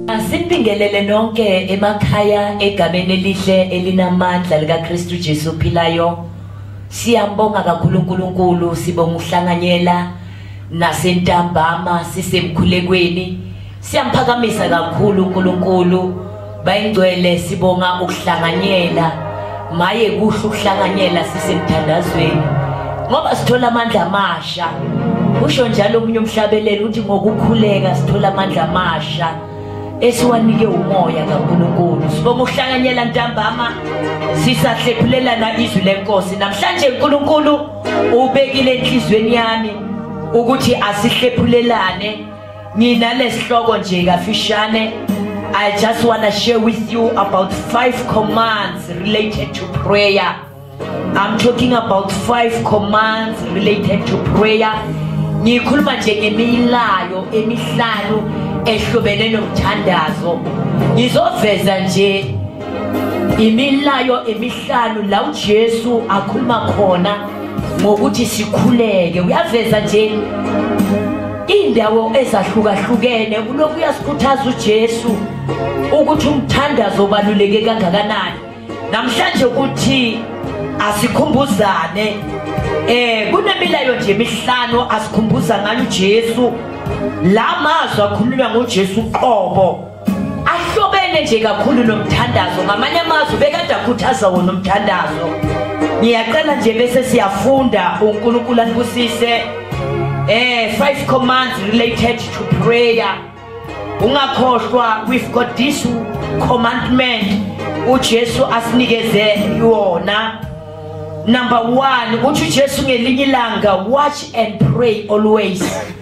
Asibingelele nonke emakhaya egameni elihle elinamandla likaKristu Jesu ophilayo. Siyambonga kakhulu uNkulunkulu sibonga uhlanganyela nasentambama sisemkhulekweni. Siyamphakamisa kakhulu uNkulunkulu. bayingcwele sibonga ukuhlanganyela maye kuhle ukuhlanganyela sisemthandazweni ngoba sithola amandla amasha usho njalo omunye umhlabeleli uthi ngokukhuleka sithola amandla amasha esiwanike umoya kaNkulunkulu sibonga ukuhlanganyela ntambama sisahlephulelana izwi lenkosi namhlanje uNkulunkulu ubekile enhlizweni yami ukuthi asihlephulelane nginalesihloko nje kafishane I just want to share with you about five commands related to prayer. I'm talking about five commands related to prayer. Ngikhuluma nje ngemilayo emihlanu ehlobene nomthandazo. Ngizoveza nje imilayo emihlanu la uJesu akhuluma khona ngokuthi sikhuleke. Uyaveza nje Indawo ezahlukahlukene kulokhu uyasikhuthaza uJesu ukuthi umthandazo obaluleke kangakanani. Namhlanje ukuthi asikhumbuzane eh kunemilayo nje emihlanu asikhumbuza ngayo uJesu la mazwi akhulunywa ngoJesu qobo ahlobene nje kakhulu nomthandazo ngamanye amazwi bekade akhuthaza wona umthandazo ngiyaqala nje bese siyafunda uNkulunkulu anibusise eh five commands related to prayer ungakhohlwa we've got this commandment uJesu asinikeze yona number 1 uthi uJesu ngelinye ilanga watch and pray always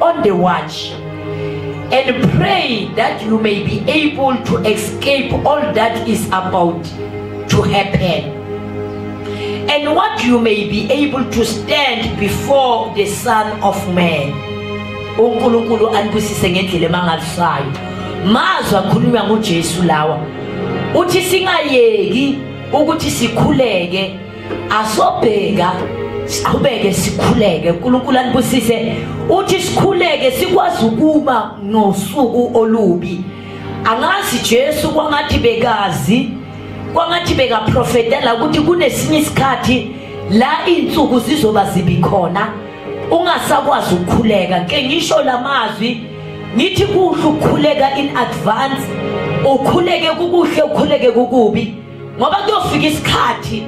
on the watch and pray that you may be able to escape all that is about to happen and what you may be able to stand before the son of man uNkulunkulu anibusise ngendlela emangalisayo mazwi akhulunywa nguJesu lawa uthi singayeki ukuthi sikhuleke asobheka siqhubeke sikhuleke uNkulunkulu anibusise uthi sikhuleke sikwazi ukuba nosuku olubi angazi Jesu kwangathi bekazi kwangathi bekaprofetela ukuthi kunesinye isikhathi la insuku zizoba zibi khona ungasakwazi ukukhuleka ke ngisho lamazwi ngithi kuhle ukukhuleka in advance ukhuleke kukuhle ukhuleke kukubi ngoba kuyofika isikhathi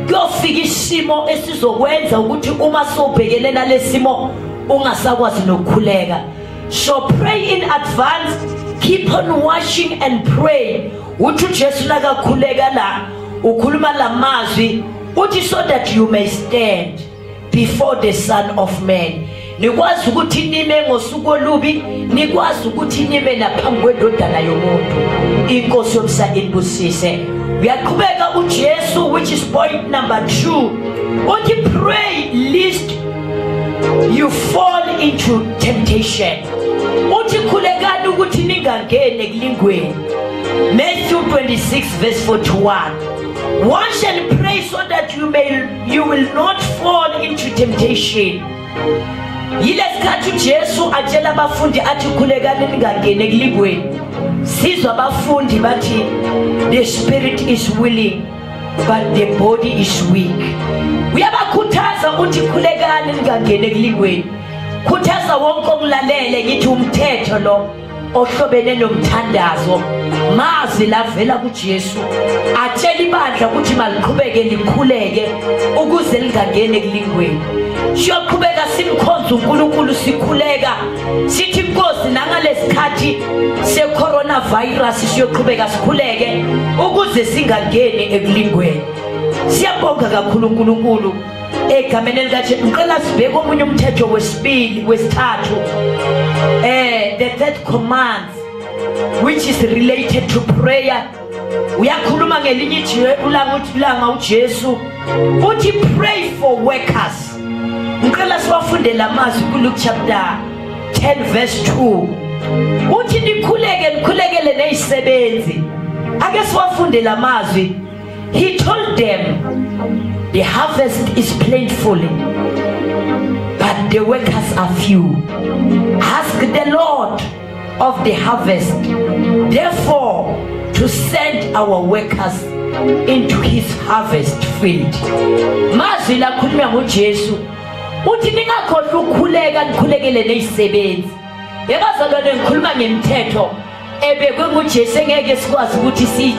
kuyofika isimo esizokwenza ukuthi uma sobhekene nalesimo ungasakwazi nokukhuleka so pray in advance keep on watching and pray uthi uJesu nakakhuleka la ukhuluma lamazwi uthi so that you may stand before the son of man nikwazi ukuthi nime ngosuku olubi nikwazi ukuthi nime naphambi kwendodana yomuntu inkosi yomsa inibusise uyaqhubeka ujesu which is point number two uthi pray list you fall into temptation uthi khulekani ukuthi ningangeni ekulingweni matthew 26 verse 41 wash and pray so that you may you will not fall into temptation yilesikhathi uJesu atshela abafundi athi khulekani ningangeni ekulingweni sizwa abafundi bathi the spirit is willing but the body is weak uyabakhuthaza ukuthi khulekani ningangeni ekulingweni khuthaza wonke okulalele ngithi umthetho lo ohlobene nomthandazo mazwi lavela kuJesu atshela ibandla ukuthi maliqhubeke likhuleke ukuze lingangeni ekulingweni siyoqhubeka simkhonza uNkulunkulu sikhuleka sithi inkosi nangalesikhathi secoronavirus siyoqhubeka sikhuleke ukuze singangeni ekulingweni siyabonga kakhulu uNkulunkulu egameni elikajesu ngicela sibheke omunye umthetho wesibili wesithathu um the third command which is related to prayer uyakhuluma ngelinye ijebulanga uthi bulanga ujesu uthi pray for workers ngicela siwafunde la mazwi kuluke chapter 10 verse 2 uthi nikhuleke nikhulekele nezisebenzi ake siwafunde la mazwi He told them the harvest is plentiful but the workers are few. Ask the Lord of the harvest therefore to send our workers into his harvest field mazwi lakhuluma ngoJesu uthi ningakhohlwa ukukhuleka nikhulekele nezisebenzi yebazalwane ngikhuluma ngemthetho ebekwe nguJesu engeke sikwazi ukuthi si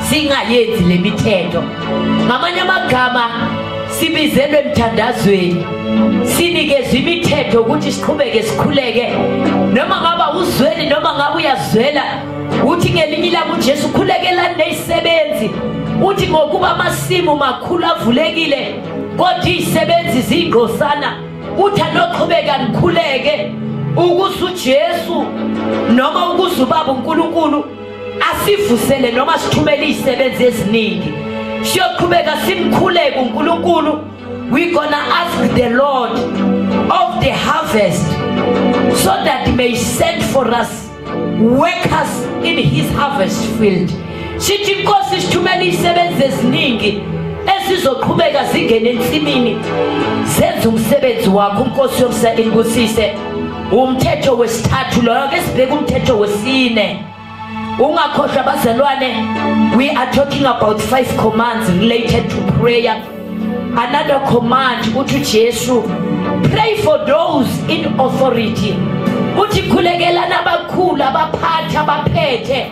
singayenzi lemithetho ngamanye amagama sibizelwe emthandazweni sinikezwe imithetho ukuthi siqhubeke sikhuleke noma ngaba uzweli noma ngabe uyazwela uthi ngelinye ilanga uJesu khulekela nezisebenzi uthi ngokuba amasimu makhulu avulekile kodwa izisebenzi zingqosana uthi anoqhubeka nikhuleke ukuze uJesu noma ukuze ubaba uNkulunkulu asivusele noma sithumele izisebenzi eziningi siyoqhubeka simkhuleke uNkulunkulu we gonna ask the Lord of the harvest so that he may send for us workers in his harvest field sithi inkosi sithumela izisebenzi eziningi esizoqhubeka zingene ensimini senze umsebenzi wakho unkosi yomsa inkosise umthetho wesithathu loyo ke sibheke umthetho wesine ungakhohlwa bazalwane we are talking about five commands related to prayer another command ukuthi uJesu pray for those in authority uthi khulekelana abakhulu abaphathi abaphethe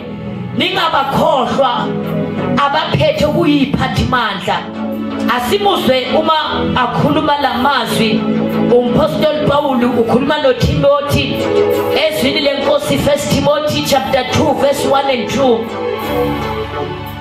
ningabakhohlwa abaphethe ukuyiphathi mandla asimuzwe uma akhuluma lamazwi umpostoli Pawulu ukhuluma noTimothy ezwini lenkosi 1 Timothy chapter 2 verse 1 and 2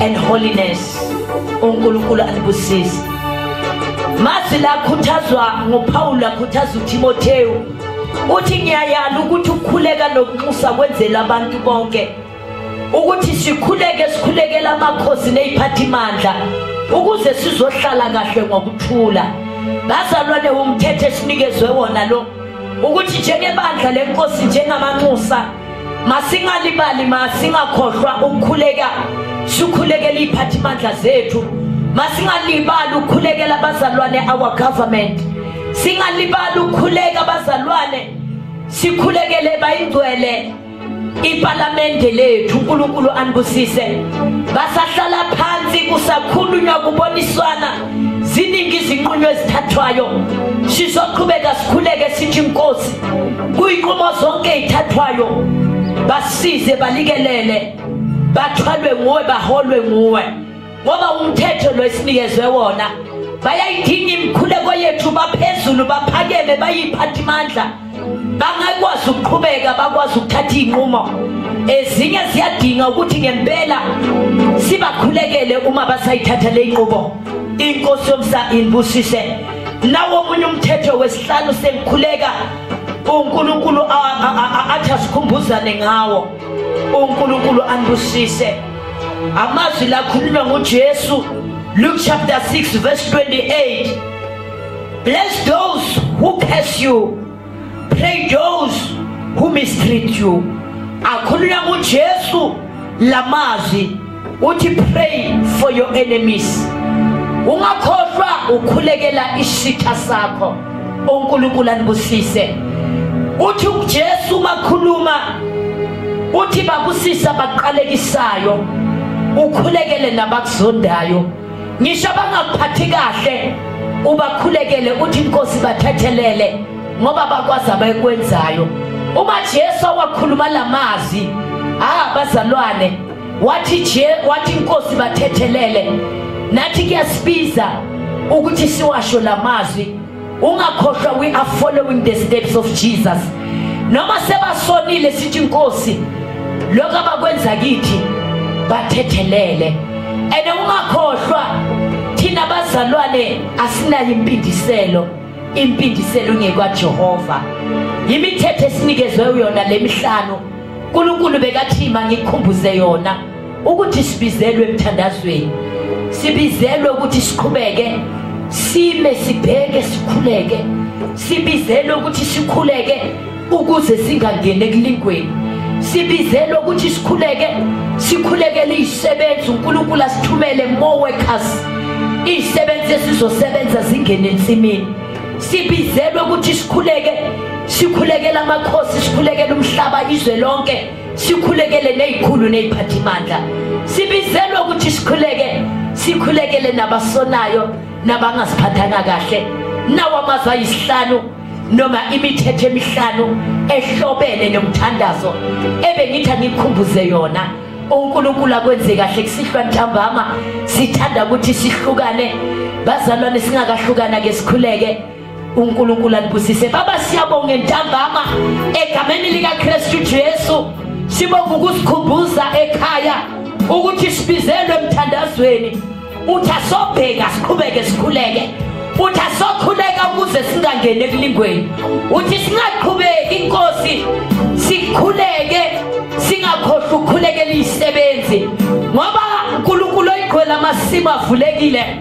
and holiness uNkulunkulu anibusise mazi lakhuthazwa ngoPaul lakhuthaza uTimotheu uthi ngiyayala ukuthi ukukhuleka nokunxusa kwenzela abantu bonke ukuthi sikhuleke sikhulekela amakhosi neziphathimandla ukuze sizohlala kahle ngokuthula bazalwane umthetho esinikezwe wona lo ukuthi njengebandla lenkosi njengamanxusa masingalibali masingakhohlwa ukukhuleka sikhulekela iy'phathimandla zethu masingalibali ukukhulekela abazalwane our government singalibali ukukhuleka abazalwane sikhulekele bayingcwele ipalamende lethu uNkulunkulu anibusise basahlala phansi kusakhulunywa kuboniswana ziningi izinqunywa ezithathwayo sizoqhubeka sikhuleke sithi inkosi kuyinqumo zonke ezithathwayo basize balikelele bathwalwe nguwe baholwe nguwe ngoba umthetho lo esinikezwe wona bayayidinga imikhuleko yethu baphezulu baphakeme bayiphathi mandla bangakwazi ukuqhubeka bakwazi ukuthatha iy'nqumo ezinye ziyadinga ukuthi ngempela sibakhulekele uma basayithatha le nqubo inkosi yomsa inibusise nawo omunye umthetho wesihlanu sengikhuleka uNkulunkulu athi asikhumbuzane ngawo uNkulunkulu anibusise amazwi lakhulunywa nguJesu Luke chapter 6 verse 28 Bless those who curse you. Pray those who mistreat you. Akhulula uJesu lamazi uthi pray for your enemies. Ungakhohlwa ukhulekela isitha sakho. uNkulunkulu anibusise. Uthi uJesu makhuluma uthi babusisa baqalekisayo ukhulekele nabakuzondayo. ngisho abangakuphathi kahle ubakhulekele uthi inkosi bathethelele ngoba bakwazi abayikwenzayo uma Jesu wakhuluma lamazwi ah bazalwane wathi je wathi inkosi bathethelele nathi kuyasibiza ukuthi siwasho lamazwi ungakhohlwa we are following the steps of jesus noma sebasonile sithi inkosi lokho abakwenza kithi bathethelele and ungakhohlwa thina bazalwane asinayo impindiselo impindiselo ungekwaJehova imithetho esinikezwe yona lemihlanu uNkulunkulu bekathi mangikhumbuze yona ukuthi sibizelwe emthandazweni sibizelwe ukuthi siqhubeke sime sibheke sikhuleke sibizelwe ukuthi sikhuleke ukuze singangeni ekulingweni sibizelwe ukuthi sikhuleke sikhulekele izisebenzi unkulunkulu asithumele more workers izisebenzi esizosebenza zingene ensimini sibizelwe ukuthi sikhuleke sikhulekela amakhosi sikhulekela umhlaba izwe lonke sikhulekele nezikhulu neziphathimandla sibizelwe ukuthi sikhuleke sikhulekele nabasonayo nabangaziphathanga kahle nawo amazwi ayisihlanu noma imithetho emihlanu ehlobene nomthandazo ebengithi angikhumbuze yona uNkulunkulu akwenze kahle kusihlwa ntambama sithanda ukuthi sihlukane bazalwane singakahlukana ke sikhuleke unkulunkulu anibusise baba siyabonga entambama egameni likakristu jesu sibonga ukusikhumbuza ekhaya ukuthi sibizelwe emthandazweni uthi asobheka siqhubeke sikhuleke uthi asokhuleka ukuze singangeni ekulingweni uthi singaqhubeki inkosi sikhuleke singakhohlwa ukukhulekela izisebenzi ngoba unkulunkulu oyigqwela amasimu avulekile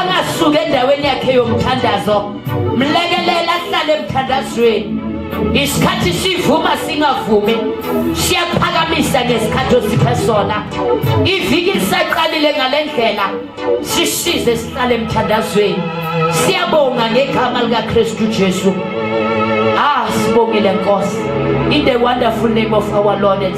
angasuke endaweni yakhe yomthandazo mlekelela ahlale emthandazweni isikhathi sivuma singavumi siyaphakamisa ngesikhathi osiphe sona iviki lisaqalile ngale ndlela sisize sihlale emthandazweni siyabonga ngegama likakristu jesu ah sibongile nkosi in the wonderful name of our lord and